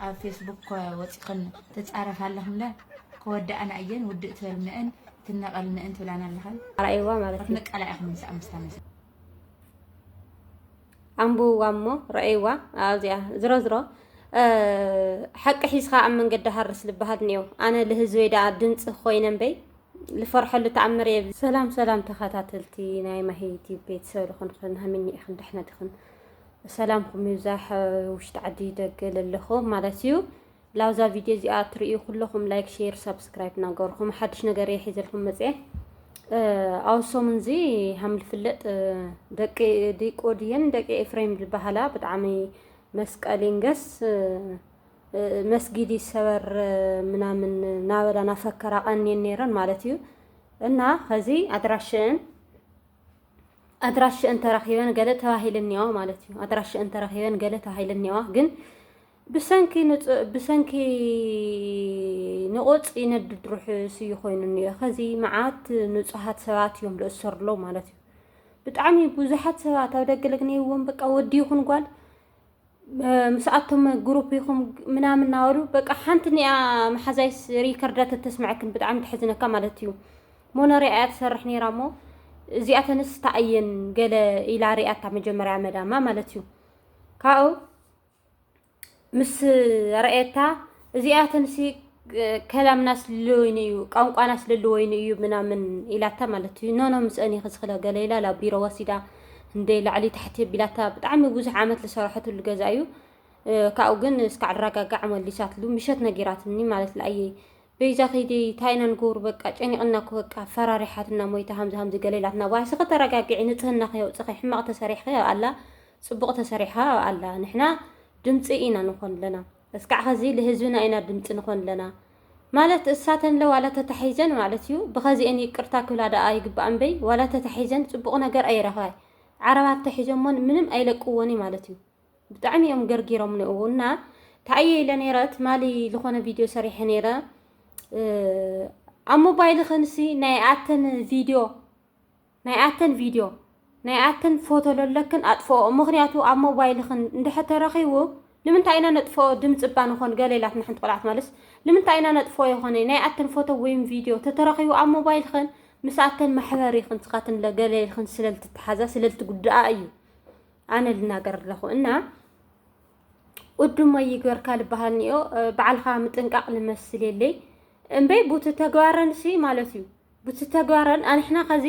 ኣብ ፌስቡክ እኮ ወፂኽን ትፃረፋ ኣለኽን እምበር ክወዳኣና እየን ውድእ ትበልነእን ትነቀልነእን ትብላና ኣለኽን ኣርኣይዋ ማለት እዩ ክትንቀላ ኢኽን ምስኣ ምስታ መስ ኣንብብዋ እሞ ረኣይዋ ኣብዚኣ ዝሮ ዝሮ ሓቂ ሒዝካ ኣብ መንገዲ ሃርስ ዝበሃል እኒኦ ኣነ ልህዝበይ ደኣ ድምፂ ኮይነ እምበይ ልፈርሐሉ ተኣምር እየ ሰላም ሰላም ተኸታተልቲ ናይ ማሂ ዩቲብ ቤተሰብ ልኾንክን ሃምኒ ኢኽን ድሕነት ኢኽን ሰላምኩም ይብዛሕ ውሽጢ ዓዲ ደገ ለለኹም ማለት እዩ ላብዛ ቪድዮ እዚኣ እትርእዩ ኩለኹም ላይክ ሼር ሳብስክራይብ ናገርኩም ሓድሽ ነገር እየ ሒዘልኩም መፅአ ኣብ ሰሙን እዚ ሃም ዝፍለጥ ደቂ ዲቆድየን ደቂ ኤፍሬም ዝበሃላ ብጣዕሚ መስቀል ይንገስ መስጊድ ይሰበር ምናምን ናበላ ናፈከራ ቀንየን ነይረን ማለት እዩ እና ከዚ ኣድራሽን ኣድራሽአን ተረኺበን ገለ ተባሂለኒዋ ማለት እዩ። ኣድራሽአን ተረኺበን ገለ ተባሂለኒዋ ግን ብሰንኪ ብሰንኪ ንቆፅ ይነድድ ርሑስ እዩ ኮይኑ እኒኦ ከዚ መዓት ንፁሃት ሰባት እዮም ዝእሰሩ ኣለዉ ማለት እዩ ብጣዕሚ ብዙሓት ሰባት ኣብ ደገ ለግነይዎም በቃ ወዲ ይኹን ጓል ምስኣቶም ግሩፕ ይኹም ምናምን እናበሉ በቃ ሓንቲ ኒኣ መሓዛይስ ሪከርዳ ተተስምዐክን ብጣዕሚ ተሕዝነካ ማለት እዩ ሞነሪያ እያ ትሰርሕ ነይራ እሞ እዚኣተንስ ተኣየን ገለ ኢላ ሪኣታ መጀመርያ መዳማ ማለት እዩ ካብኡ ምስ ረኣየታ እዚኣተንሲ ከላምና ስለወይኑ እዩ ቋንቋና ስለለወይኑ እዩ ምናምን ኢላታ ማለት እዩ ኖኖ ምስአን እየ ክስክለ ገለ ኢላ ናብ ቢሮ ወሲዳ እንደ ላዕሊ ታሕቲ ቢላታ ብጣዕሚ ብዙሕ ዓመት ዝሰራሐትሉ ገዛ እዩ ካብኡ ግን እስካዕ ኣረጋጋዕ መሊሳትሉ ምሸት ነጊራትኒ ማለት ለኣየ በይዛ ከይዲ ታይና ንገብሩ በቃ ጨኒቕና እኮ በቃ ፈራሪሓትና ሞይታ ሃምዚ ሃምዚ ገለ ኢላትና ዋይሲ ከተረጋግዒ ንፅህና ከየውፅኺ ሕማቕ ተሰሪሕኺ ኣላ ፅቡቕ ተሰሪሓ ኣላ ንሕና ድምፂ ኢና ንኾን ኣለና እስካዕ ኸዚ ልህዝብና ኢና ድምፂ ንኾን ለና ማለት እሳተንለ ዋላ ተታሒዘን ማለት እዩ ብኸዚኤን ይቅርታ ክብላ ዳኣ ይግባኣ እምበይ ዋላ ተታሒዘን ፅቡቅ ነገር ኣይረኸባይ ዓረባት ተሒዞሞን ምንም ኣይለቅዎንይ ማለት እዩ ብጣዕሚ እዮም ገርጊሮምኒ እው እና ተኣየ ኢለ ነይረ ትማሊ ልኾነ ቪድዮ ሰሪሐ ነይረ ኣብ ሞባይል ኸንሲ ናይ ኣተን ቪድዮ ናይ ኣተን ቪድዮ ናይ ኣተን ፎቶ ለለክን ኣጥፍኦኦ ምክንያቱ ኣብ ሞባይልክን እንድሕር ተረኪቡ ልምንታይ ኢና ነጥፍኦ ድምፂ እባ ንኮን ገለ ኢላትና ሓንቲ ቆልዓ ትመልስ ልምንታይ ኢና ነጥፍኦ የኮነይ ናይ ኣተን ፎቶ ወይም ቪድዮ ተተረኪቡ ኣብ ሞባይልክን ምስ ኣተን ማሕበር ኢክን ስካትን ለ ገለ ኢልክን ስለልትተሓዛ ስለልትጉድኣ እዩ ኣነ ልናገር ኣለኩ እና ኡዱመ ይግበርካ ልበሃል ኒኦ በዓልካ ምጥንቃቅ ልመስል የለይ እምበይ ቡቲ ተግባረን ሲ ማለት እዩ ቡቲ ተግባረን ኣንሕና ከዚ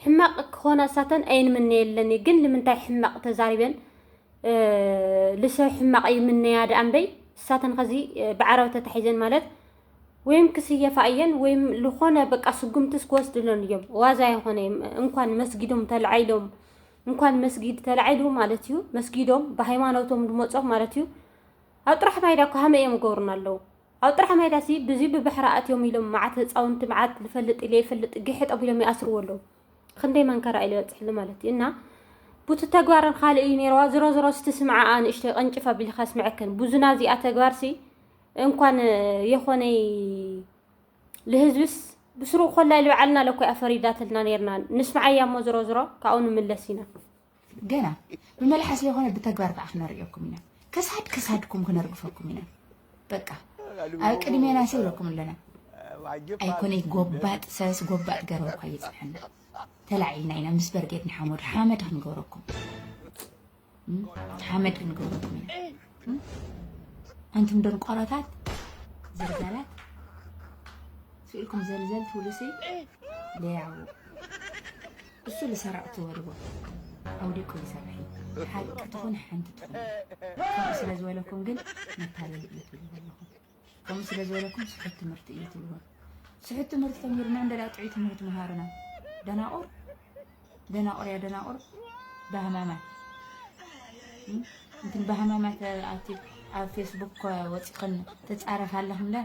ሕማቅ ክኾና እሳተን ኣይንምነ የለን ግን ልምንታይ ሕማቅ ተዛሪበን ልሰብ ሕማቅ ይምነያ ደኣ እምበይ እሳተን ከዚ ብዓረብ ተታሒዘን ማለት ወይም ክስየፋ እየን ወይም ልኾነ በቃ ስጉምትስ ክወስድለን እዮም ዋዛ ይኾነ እንኳን መስጊዶም ተልዓይሎም እንኳን መስጊድ ተላዒሉ ማለት እዩ መስጊዶም ብሃይማኖቶም ድመፆም ማለት እዩ ኣብ ጥራሕ ማይዳ እኮ ሃመ እዮም ገብሩና ኣለዉ ኣብ ጥራሕ ማይዳ ሲ ብዙ ብባሕሪ ኣትዮም ኢሎም መዓት ህፃውንቲ መዓት ልፈልጥ ኢለ ይፈልጥ ግሕጥ ኣቢሎም ይኣስርዎ ኣለዉ ክንደይ መንከራ ኢለ በፅሕሉ ማለት እዩ እና ቡቲ ተግባርን ካልእ እዩ ነይረዋ ዝሮ ዝሮ ስቲ ስምዓኣ ንእሽተይ ቀንጭፍ ኣቢልካ ስምዐክን ብዙና እዚኣ ተግባርሲ እንኳን የኾነይ ልህዝብስ ብስሩ ኮላይ ልብዓልና ለኮያ ፈሪዳትልና ነርና ንስምዓያ እሞ ዝሮ ዝሮ ካብኡ ንምለስ ኢና። ገና ብመልሓስ ለይኮነ ብተግባር ከዓ ክነርእየኩም ኢና ከሳድ ከሳድኩም ክነርግፈኩም ኢና በቃ ኣብ ቅድሜና ሲ ብለኩም ኣለና ኣይኮነይ ጎባጥ ሰስ ጎባጥ ገረብ እኳ እየፅንሐና ተላዒልና ኢና ምስ በርጌድ ንሓመዱ ሓመድ ክንገብረኩም ሓመድ ክንገብረኩም ኢና ኣንቱም ደንቆሮታት ዘርጋላት ስኢልኩም ዘልዘል ትብሉሲ ለያው እሱ ልሰራቅ ትበልዎ ኣውዲቁ ይሰርሒ ሓቂ ትኹን ሓንቲ ትኹን ከምኡ ስለ ዝበለኩም ግን መታለሊ እዩ ትብሉ ዘለኹም ከምኡ ስለ ዝበለኩም ስሑት ትምህርቲ እዩ ትብሉ። ስሑት ትምህርቲ ተሚርና እንደላ ጥዑይ ትምህርቲ መሃርና። ደናቑር ደናቑር ያ ደናቑር ባህማማት እንትን ባህማማት ኣብቲ ኣብ ፌስቡክ ወፂኽን ተፃረፍ ኣለኽን ለ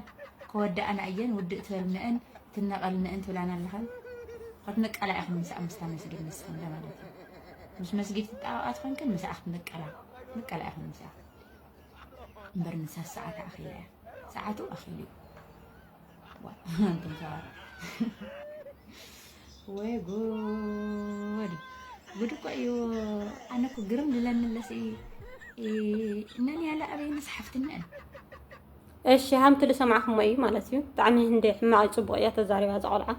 ከወዳእና እየን ውድእ ትበልነአን ትነቐልነአን ትብላና ኣለኽን ክትንቀላ ኢኽን ምስኣ ምስታ መስጊድ ንስኽን ለ ማለት እዩ ምስ መስጊድ ትጣበቓ ትኸንክን ምስኣ ክትንቀላ ንቀላ ኢኽን ምስኣ እምበር ንሳስ ሰዓታ ኣኺላ እያ ሰዓቱ ኣኺሉ እዩ ኣንቱም ሰባት ወይ ጉድ ጉድ እኮ እዩ ኣነ እኮ ግርም ልለኒ ኣለሲ እነን ያለ ኣበይ መፅሓፍትነን እሺ ሃምቲ ዝሰማዕኩሞ እዩ ማለት እዩ ብጣዕሚ እንደ ሕማቕ ፅቡቕ እያ ተዛሪባ ዝቆልዓ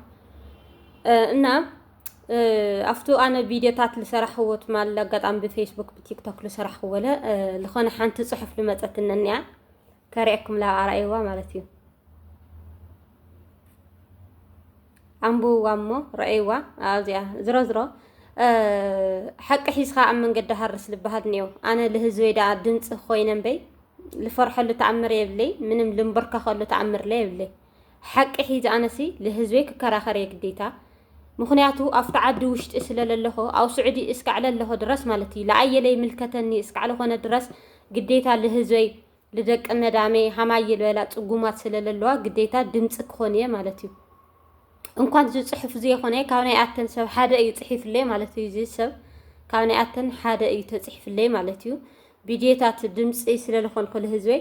እና ኣፍቱ ኣነ ቪድዮታት ዝሰራሕዎ ትማል ኣጋጣሚ ብፌስቡክ ብቲክቶክ ዝሰራሕዎ ለ ዝኾነ ሓንቲ ፅሑፍ ልመፀትኒ እኒኣ ከሪኤኩምላ ኣርኣይዋ ማለት እዩ ኣንብብዋ እሞ ረኣይዋ ኣብዚኣ ዝሮ ዝሮ ሓቂ ሒዝካ ኣብ መንገዲ ሃርስ ልበሃል እኒኦ ኣነ ልህዝበይ ደኣ ድምፂ ኮይነ እምበይ ልፈርሐሉ ተኣምር የብለይ ምንም ልንበርከኸሉ ተኣምር ለ የብለይ ሓቂ ሒዘ ኣነሲ ልህዝበይ ክከራከር እየ ግዴታ ምክንያቱ ኣፍቲ ዓዲ ውሽጢ ስለ ለለኮ ኣብ ሱዑዲ እስካዕ ለለኮ ድረስ ማለት እዩ ለኣየ ለይምልከተኒ እስካዕ ለኮነ ድረስ ግዴታ ልህዝበይ ልደቂ መዳመይ ሃማየ ልበላ ፅጉማት ስለ ለለዋ ግዴታ ድምፂ ክኮን እየ ማለት እዩ እንኳን ዝፅሑፍ ዘይኮነ ካብ ናይ ኣተን ሰብ ሓደ እዩ ፅሒፍለይ ማለት እዩ እዚ ሰብ ካብ ናይ ኣተን ሓደ እዩ ተፅሒፍለይ ማለት እዩ ቪድዮታት ድምፂ ስለ ለኮንኩ ልህዝበይ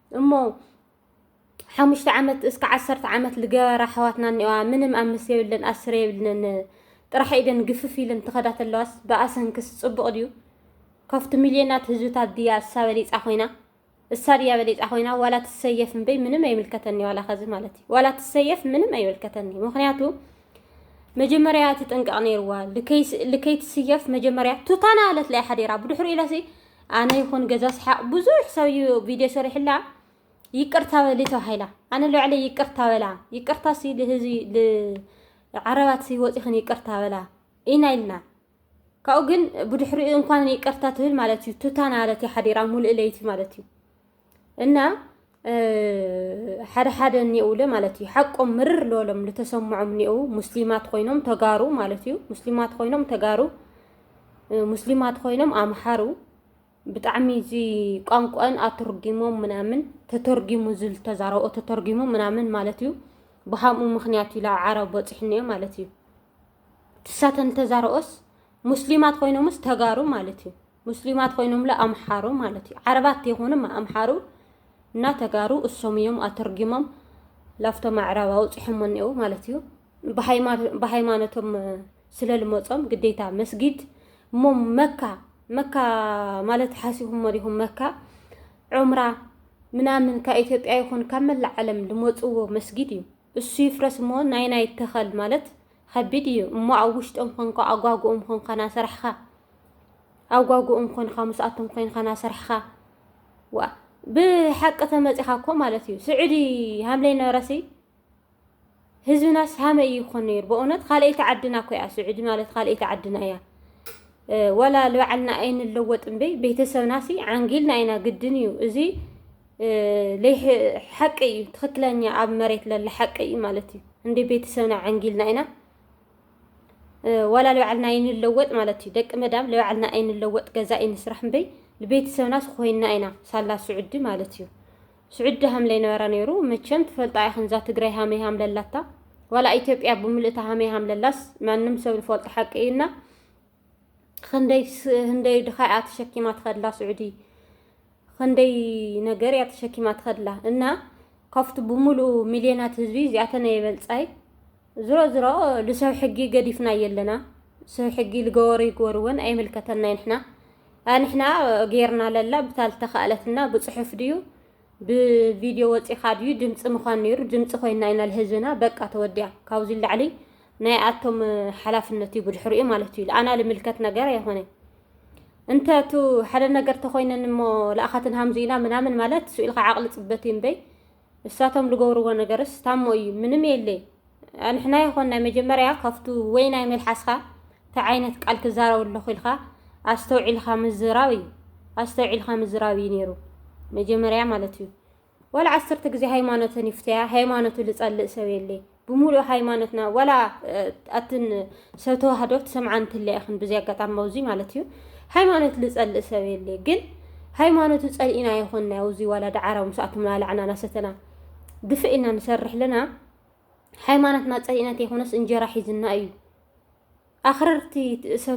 እሞ ሓሙሽተ ዓመት እስከ ዓሰርተ ዓመት ልገበራ ኣሕዋትና እኒኦዋ ምንም ኣምስት የብለን ኣስር የብልንን ጥራሕ ኢደን ግፍፍ ኢለን ትኸዳ ተለዋስ ብኣሰንክስ ፅቡቕ ድዩ ከፍቲ ሚልዮናት ህዝብታት ድያ እሳ በሊፃ ኮይና እሳ ድያ በሊፃ ኮይና ዋላ ትሰየፍ እምበይ ምንም ኣይምልከተኒ ዋላ ከዚ ማለት እዩ ዋላ ትሰየፍ ምንም ኣይምልከተኒ ምክንያቱ መጀመርያ ትጥንቀቕ ነይርዋ ልከይትስየፍ መጀመርያ ቱታና ኣለትላይ ሓዲራ ብድሕሪኡ ኢለሲ ኣነ ይኹን ገዛ ስሓቅ ብዙሕ ሰብ እዩ ቪድዮ ሰሪሕላ ይቅርታ በሊ ተባሂላ ኣነ ልባዕለይ ይቅርታ በላ ይቅርታ ሲ ልህዝቢ ልዓረባት ሲ ወፂኽን ይቅርታ በላ ኢና ኢልና ካብኡ ግን ብድሕሪኡ እንኳን ይቅርታ ትብል ማለት እዩ ቱታ ናለት ሓዲራ ሙሉእ ለይቲ ማለት እዩ እና ሓደ ሓደ እኒኡለ ማለት እዩ ሓቆም ምርር ልበሎም ልተሰምዖም እኒኡ ሙስሊማት ኮይኖም ተጋሩ ማለት እዩ ሙስሊማት ኮይኖም ተጋሩ ሙስሊማት ኮይኖም ኣምሓሩ ብጣዕሚ እዚ ቋንቋን ኣተርጊሞም ምናምን ተተርጊሙ ዝተዛረቦ ተተርጊሙ ምናምን ማለት እዩ ብሃምኡ ምክንያት እዩ ላብ ዓረብ በፂሕኒዮ ማለት እዩ ትሳተን ተዛረኦስ ሙስሊማት ኮይኖምስ ተጋሩ ማለት እዩ ሙስሊማት ኮይኖምለ ኣምሓሩ ማለት እዩ። ዓረባት ተይኮኑ ኣምሓሩ እና ተጋሩ እሶም እዮም ኣተርጊሞም ላፍቶ ማዕራብ ኣውፂሖሞ እኒአው ማለት እዩ። ብሃይማኖቶም ስለልመፆም ግዴታ መስጊድ እሞ መካ መካ ማለት ሓሲኹሞ ዲኹም መካ ዑምራ ምናምን ካብ ኢትዮጵያ ይኹን ካብ መላእ ዓለም ዝመፅዎ መስጊድ እዩ። እሱ ይፍረስ እሞ ናይና ይተኸል ማለት ኸቢድ እዩ እሞ ኣብ ውሽጦም ኾንካ ኣጓጉኦም ኾንካ ናሰርሕኻ ኣጓጉኦም ኾንካ ምስኣቶም ኾይንካ ናሰርሕኻ ዋ ብሓቂ ተመፂኻ እኮ ማለት እዩ ስዑዲ ሃምለይ ነበረሲ ህዝብናስ ሃመይ ይኾን ነይሩ በእውነት ካልኣይቲ ዓድና እኮ እያ ስዑዲ ማለት ካልኣይቲ ዓድና እያ ወላ ልባዕልና ኣይንለወጥ እምበይ ቤተሰብናሲ ዓንጊልና ኢና ግድን እዩ እዚ ሓቂ እዩ ትክክለኛ ኣብ መሬት ለለ ሓቂ እዩ ማለት እዩ እንደ ቤተሰብና ዓንጊልና ኢና ዋላ ልባዕልና ኣይንለወጥ ማለት እዩ ደቂ መዳም ልባዕልና ኣይንለወጥ ገዛ ኣይንስራሕ እምበይ ንቤተሰብና ስኮይና ኢና ሳላ ስዑዲ ማለት እዩ ስዑዲ ሃምለይ ነበራ ነይሩ መቸም ትፈልጣ ኢኽን እዛ ትግራይ ሃመይ ሃምለላታ ዋላ ኢትዮጵያ ብምልእታ ሃመይ ሃምለላስ ማንም ሰብ ዝፈልጦ ሓቂ እዩና ክንደይ ህንደይ ድኻ እያ ተሸኪማ ትኸድላ ስዑዲ ክንደይ ነገር እያ ተሸኪማ ትኸድላ እና ካብቲ ብምሉኡ ሚልዮናት ህዝቢ እዚኣተን የበልፃይ ዝሮ ዝሮ ልሰብ ሕጊ ገዲፍና የለና ሰብ ሕጊ ልገበሩ ይግበርወን ኣይምልከተና ንሕና ንሕና ጌርና ለላ ብታ ልተኸእለትና ብፅሑፍ ድዩ ብቪድዮ ወጺኻ ድዩ ድምጺ ምዃን ነይሩ ድምጺ ኮይና ኢና ልህዝብና በቃ ተወዲያ ካብዚ ላዕሊ ናይ ኣቶም ሓላፍነት እዩ ብድሕሪኡ ማለት እዩ ልኣና ልምልከት ነገር ኣይኾነ እንተ እቱ ሓደ ነገር ተኮይነን እሞ ልኣኻትን ሃምዙ ኢና ምናምን ማለት ስኢልካ ዓቕሊ ጽበት እዩ እምበይ እሳቶም ልገብርዎ ነገርስ ታሞ እዩ ምንም የለይ ኣንሕና ይኾን ናይ መጀመርያ ካብቱ ወይ ናይ መልሓስኻ እንታይ ዓይነት ቃል ክዛረብ ኣለኹ ኢልካ ኣስተውዒልካ ምዝራብ እዩ ኣስተውዒልካ ምዝራብ እዩ ነይሩ መጀመርያ ማለት እዩ ዋላ ዓሰርተ ግዜ ሃይማኖተን ይፍተያ ሃይማኖቱ ዝጸልእ ሰብ የለ ብምሉእ ሃይማኖትና ዋላ ኣትን ሰብ ተዋህዶ ትሰምዓ እንትለ ኢኽን ብዚ ኣጋጣሚ ኣብዚ ማለት እዩ ሃይማኖት ዝጸልእ ሰብ የለ ግን ሃይማኖቱ ጸልኢና ይኾንና ኣብዚ ዋላ ዳዓራ ምስኣቶም ላላዕና ናሰተና ድፍእ ኢና ንሰርሕ ኣለና ሃይማኖትና ፀሊእና ተይኮነስ እንጀራ ሒዝና እዩ። ኣኽረርቲ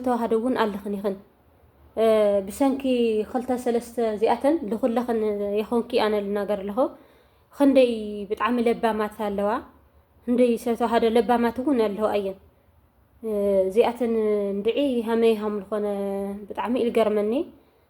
ተዋህዶ እውን ኣለኽን ይኽን ብሰንኪ ክልተ ሰለስተ እዚኣተን ልኹለኽን የኾንኪ ኣነ ልናገር ኣለኹ ክንደይ ብጣዕሚ ለባማት ኣለዋ ክንደይ ሰብ ተዋህዶ ለባማት እውን ኣለዋ እየን እዚኣተን እንድዒ ሃመይ ሃም ልኾነ ብጣዕሚ ኢልገርመኒ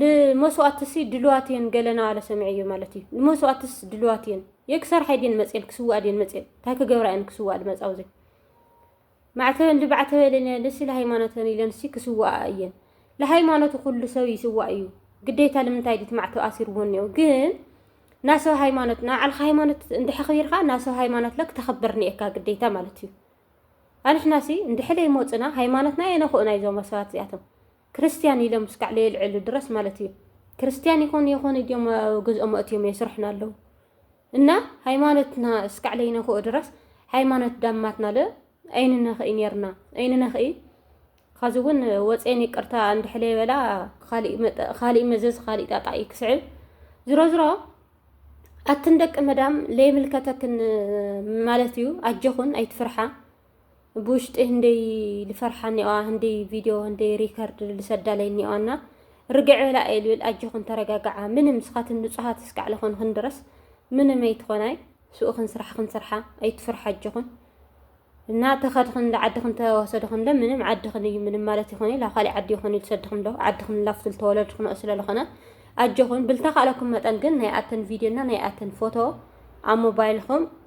ልመስዋእትሲ ድልዋት እየን ገለና ኣለ ሰምዐዮ ማለት እዩ ንመስዋእትስ ድልዋት እየን የክሰርሓይ ድየን መፅኤን ክስዋእ ድየን መፅኤን እንታይ ክገብራ እየን ክስዋእ ድመፃ ውዘ ማዕተበን ልባዕተበ ኢለን ልሲ ለሃይማኖተን ኢለን ሲ ክስዋኣ እየን ለሃይማኖቱ ኩሉ ሰብ ይስዋእ እዩ ግዴታ ልምንታይ ድት ማዕተብ ኣሲርዎ እኒኦ ግን ናብ ሰብ ሃይማኖት ናብ ዓልካ ሃይማኖት እንድሕክቢርካ ናብ ሰብ ሃይማኖት ለክ ተኸብር ኒኤካ ግዴታ ማለት እዩ ኣንሕና ሲ እንድሕለይ ሞፅና ሃይማኖትና የነክኡና እዩ ዞም ሰባት እዚኣቶም ክርስትያን ኢሎም እስካዕ ለየልዕሉ ድረስ ማለት እዩ ክርስትያን ይኾኑ የኾኑ እዲኦም ገዝኦም ኣእትዮም የስርሑና ኣለዉ እና ሃይማኖትና እስካዕ ለይነክኦ ድረስ ሃይማኖት ዳማትና ለ ኣይንነኽኢ ነርና ኣይንነኽኢ ኸዚ እውን ወፅን ይቅርታ እንድሕለ ይበላ ካሊእ መዘዝ ካሊእ ጣጣ እዩ ክስዕብ ዝሮ ዝሮ ኣትን ደቂ መዳም ለይምልከተክን ማለት እዩ ኣጀኹን ኣይትፍርሓ ብውሽጢ ህንደይ ልፈርሓ እኒኦዋ ህንደይ ቪድዮ ህንደይ ሪከርድ ልሰዳለይ እኒኦዋና ርግዕ በላ እየ ልብል ኣጆኹን ተረጋግዓ ምንም ስኻትን ንፁሃት እስካዕ ልኾንኽን ድረስ ምንም ኣይትኾናይ ስኡኽን ስራሕኽን ስርሓ ኣይትፍርሓ ኣጆኹን እና ተኸድኽን ዓድኽን ተወሰድኽን ለ ምንም ዓድኽን እዩ ምንም ማለት ይኾነ ላ ካሊእ ዓዲ ይኾነ ልሰድኽን ዶ ዓድኽን ላፍትል ተወለድኽን ስለልኾነ ኣጆኹን ብልታ ካለኩም መጠን ግን ናይ ኣተን ቪድዮ እና ናይ ኣተን ፎቶ ኣብ ሞባይልኹም